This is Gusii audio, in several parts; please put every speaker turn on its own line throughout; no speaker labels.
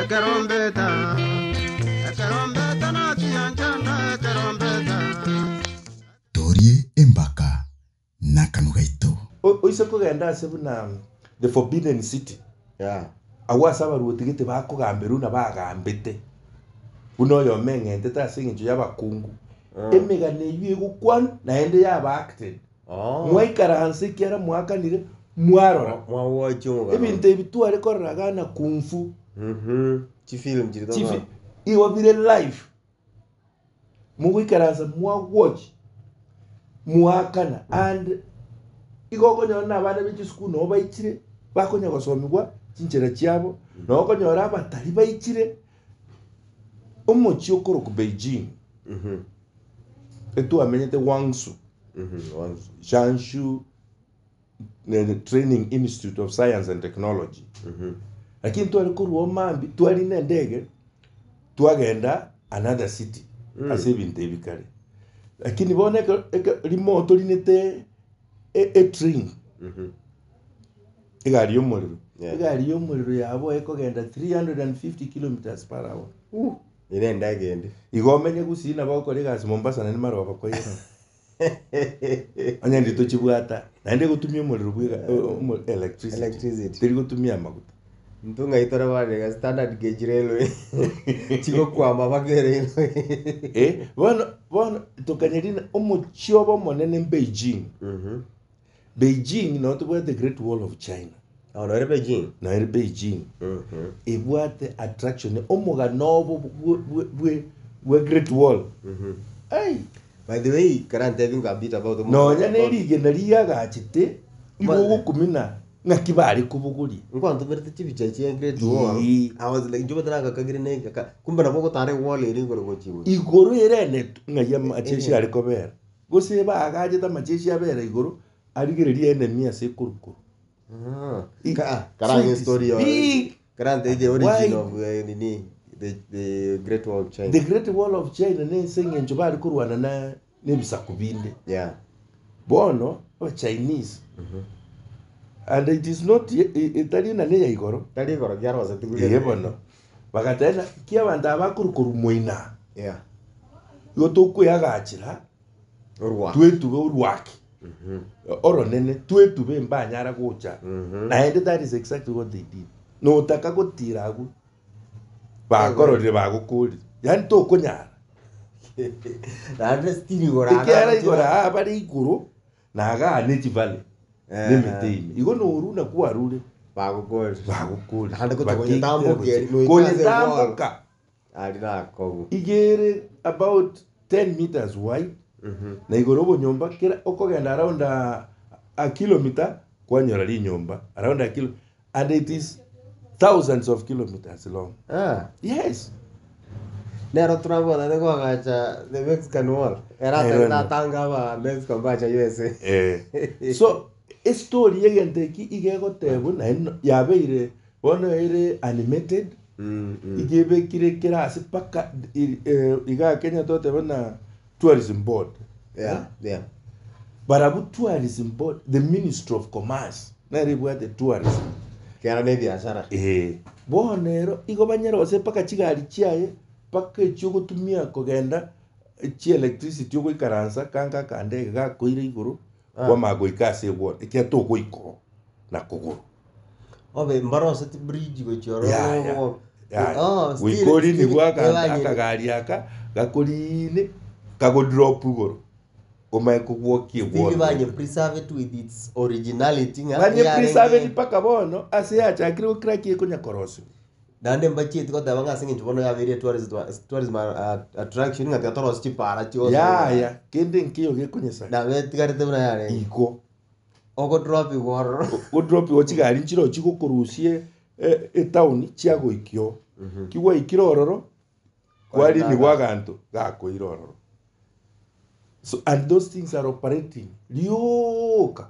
Ekerombeta, ekerombeta nachianchanda, ekerombeta. Torie embaka n'akanwa gaito. Oise kogenda ase buna the forbidden city, agwo ase abarwoti gete bakogamberwa buna bagambete, buna oyomo eng'entete ase engencho y'abakungu, emegano eyio egokwanwa, naende yaba acted. mwaikaranse ekiara mwakanire mwarora. Ebinto ebi tware korora iga na kung fu. Igo bire live. Mogoikaransa mwa watch mwakana and igo okonyora na abana be chisukuru nabo baichire bakonya gosomigwa chinchera chiabo. Nabo okonyora abatari baichire. Omochie okorokwa Beijing etwamenyete Guangzhou Shanshu Training Institute of Science and Technology lakini tware korwa omambi twari nendege twagenda another city ase ebinto ebi kare lakini bono eke- eke- rimo torinete e- etrain Egari y'omorero. Yeah. egari y'omorero yabo ekogenda 350 kilometers per hour Uh, ere enda egende. igo omenye gusii nabo okore egasi mombasa naende mara obakoirana onye ndi tochibwata naende egotumia omorero bwega o- omo- electricity Electricity. teri gotumia amaguta Ntunga itore barega standard gauge railway. Chigokwama baka railway. Eh, bono bono tokanyerina omochie obo omonene beijing Mhm. Beijing noo tobwate great wall of China. Aho nore Beijing. Nore Beijing. Mhm. Ebwate attraction omogano obo bwe- bwe- bwe- bwe great wall. Mhm. Ai. By the way, kara ntebi nga bit about omo- Nonya nerigena riagachete igo Mane. ogokumina ng'aki bare kobogoria. Nkwantomerete chibicha echi e great wall. Ii. I was like, nchobete nagakagire nengaka. Kumbe nabo ogotara ewall ere igoro gochia igoro. Igoro erenetwe ng'ai amache Eh. ase are kobera. Gose baagachete amachechi abera igoro arigererie enemi ase ekorukuru. I- Karang so it is story your big Karang the, the and origin wide. of uh, nini, the, the Great Wall of China. The Great Wall of China nense eng'encho bari korwana na nebisaku binde. Yeah. Bono aba Chinese Mhm. and it is not ye- i- itari nane ya igoro. Tari igoro giaroseti Iye bono. Bagateeba, Inki abanto aba bakore korumwa ina? Igo tokweagachera twetube orwaki oronene, twetube mbanyara gocha, naende that is exactly what they did. Notaka gotira agwo bakororire bagokorire, yaani tokonyara Naende still igoro aa ekiara igoro nabachire. aa bare igoro Na agaane chibare nemete ime, igo noru na kwarure Bagokore. bagokore, Naende gochia bakegitera konyetamboka gochia eri, noite ase engoro. konyetamboka. Aria nakobu. Iga ere about 10 meters wide, na igoro obonyomba kera okogenda around a, a kilometer kwanyora rinyomba around a kilo, And it is thousands of kilometres long. Ah, yes. Nero Trump otaete koagacha the Mexican wall. Ere Nero ataete ndo. atanga aba Mexico mbacha USA. Eh. so estory yegento eki iga egotebwa naye no- yabeire bono ere animated Mm, mm. iga ebekire kera ase mpaka i- eh, iga kenya toteba na tourism board Yeah, eh? yeah. barabwo tourism board the ministry of commerce nere ibwate tourism Kiana ne biashara. Eh, bono ero igo banyare gose mpaka chigari chiaye mpaka echio ogotumia kogenda eh, chielectricity ogoikaransa kanka akandege gakoire igoro Kwamanya goika ase egworo, ekiagera togoika oo na kogoro. Obe mboro oseti bridge gochia oro Yaya, ogo- yaya. Oh, still- Goika orie still nigwa aka- ebanyene. akagari aka gakorine kagodrop igoro omanye kogwokia Still egworo. banye preserved with its originality ng'a Banye eyarenge- preserved mpaka bono ase yachakire gokira ki ekonya korosiwa. Naende mbacheti goteba ng'a ase engencho bono yabeire etourism tourism attraction ng'a tiga torosie chipaara chionsi Yaya, kende nkeiyo gekonyesa nabo etigarete buna yarenge. igo. Ogodropiwa ororo. Godropiwa chigari nchirochio chigokorusia e- etown chiagoikia oo. Ki gwaikire ororo, kwarinigwa Kwarigaga. aganto, gakoira ororo. So, and those things are operating, rioka.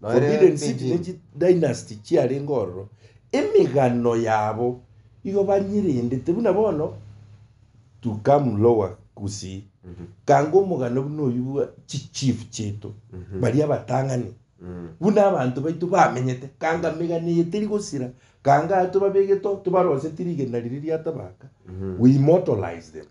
Forbidden City ne chidynasty chiarenge ororo, emegano yabo igo banyerendete buna bono to come lower Gusii. Ganga omogano buna oyio bwa chichief chiaito, baria abatang'ani, buna abanto baito bamenyete, ganga megano eye teri gosira, ganga aya tobabegete oo, tobaroseti rigena riria riatabaka, we immortalize them.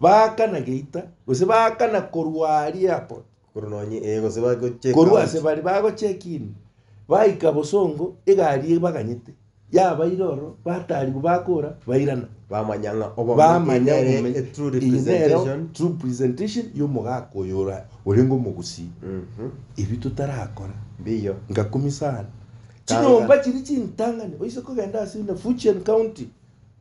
Baakana geita, gose baakana korwa aria airport, Korwa nonye ee gose bagocheka korwa ase bare bagocheck in, baika bosongo, egari ebaganyete, yabaire ororo, batarigwa bakora, bairana. bamanya ng'a obo Bamanya nere obumenyi. a true Eye nero representation true presentation y'omogaka oyo ora- orenge omogusii. Mhm. Ebio totarakora, mbiyo ngakumisa are. Kanga. Chinyomba chiria chintang'ani, oise kogenda ase buna Fujian County,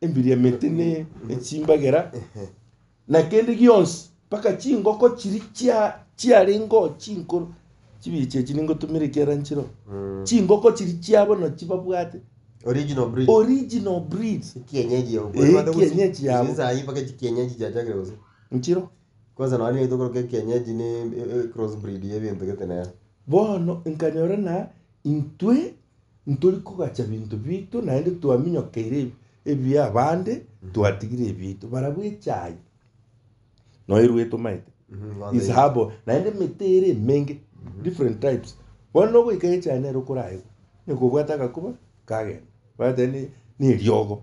Embiriamete ne echimbagera, na kende gionsi, mpaka chingoko chiri chia chiarenge oo chinkoro, chibiri chiachi ningotumera ekiara nchire oo. Chingoko chiri chiabo nachi babwate Original breed. original breed Kienyeji yao. Eh, Kwani kienyeji yao. Sisi sahi mpaka chi kienyeji chiachakire gose. nchiro. Kwanza nonye nigo tokoroka ekienyeji ne e- e- cross breed ya ebinto gete nere. Bono nkanyora ng'a intwe Ntori kogacha binto biito naende twaminyokeire ebia abande, twatigire ebiaito. Barabwo echaai noirwe etomaete. Is herbal. Naende emete ere emenge, different types. Bono nogoika echaai nere okoraegwa, nekobwata agakuba, kagenda. Bagoteba ni, ni eriogo.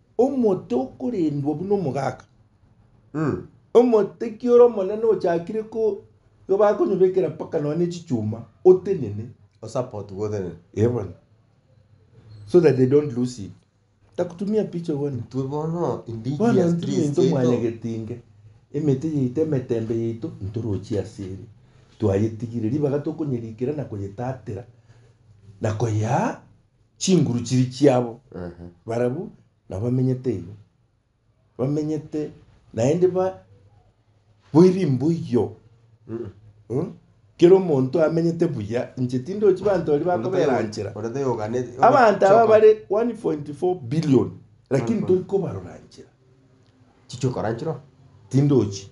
Omote okorendwa buna omogaka. Omoteki ore omonene ochakire ko igo bakonyobekera mpaka nonya ne chichuma, otenene. Osapotu gotenene. Ee bono. So that they don't lose it. Takutumia picha bono. Intwe bono indigi Bono ya ntwe streets into mwane yaito. getinge. Emete yaito emetembe yaito ntorochie ase ere. Twayetigire. Ribaga tokonyerikera na koyetatera. Na koyea chinguru chiri chiabo Ehe. barabwo nabo bamenyete igo bamenyete naende ba boiri mboiyo Mm. Eh? kera omonto amenyete buya inche tindochi banto baria bakobera nchera Ore te yogane. abanto aba bare 1.4 billion lakini tori kobarora nchera Chicho karanchiro. tindochi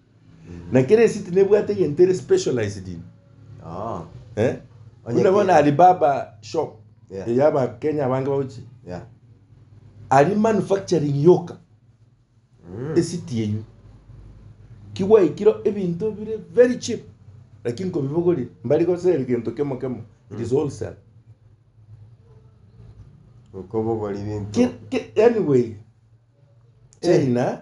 Na kera esiti nebwate egento ere specialized in. Oh. Eh? Onye Buna bono kera. Alibaba shop Yeah. eya abakenya abange bagochi Yeah. ari manufacturing yoka Mm. esiti eywo kigwaikire ebinto bire very cheap lakini nkobibogori mbari gosera egento kemo kemo it is wholesale Okobogora ebinto. Ki- ki- anyway china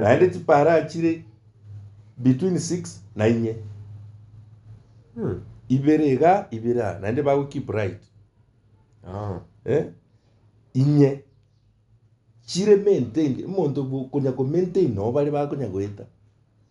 naende chipara chire between six na inye ibere iga ibere aa naende bago keep right eh, inye chire maintained omonto okonya komaintain nabo bare bakonya goeta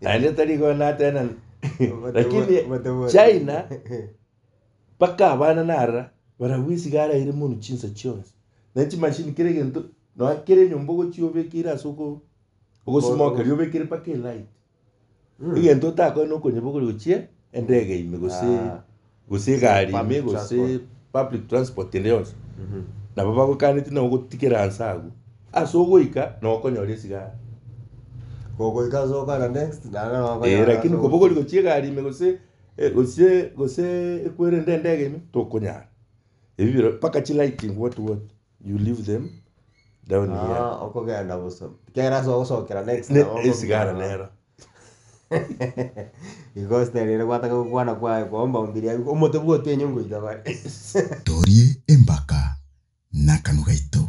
naende tari kona tena lakini china mpaka abana narora barabwo esiga araire munu chinsa chionsi ne chimashini kera egento nonya kera enyomba ogochia obekeire ase oko ogosimokeri obekire mpaka elight egento otakore nokonyebogora gochia endege ime gose gose egari ime Public gose transport. public transport ende yonsi nabo bagokaneti nabo gotigera nse agwo ase ogoika na okonyora esigara Ogoika ase okwana next naende nabo okonyora ee ase lakini koba ogokina. ogori gochia egari ime gose e gose gose ekwere ende endege ime tokonyara ebi biro mpaka chilighting what what. You leave them down here. Ah, okogenda bosa. Kera ase ogosokera next Ne- nabo esigara okong'ina. nero. Igo style ere gwataka gokwana kwaye koomba ombiri aye omote bwa otienye ngoita bare. Torie empaka nakanwa gaito.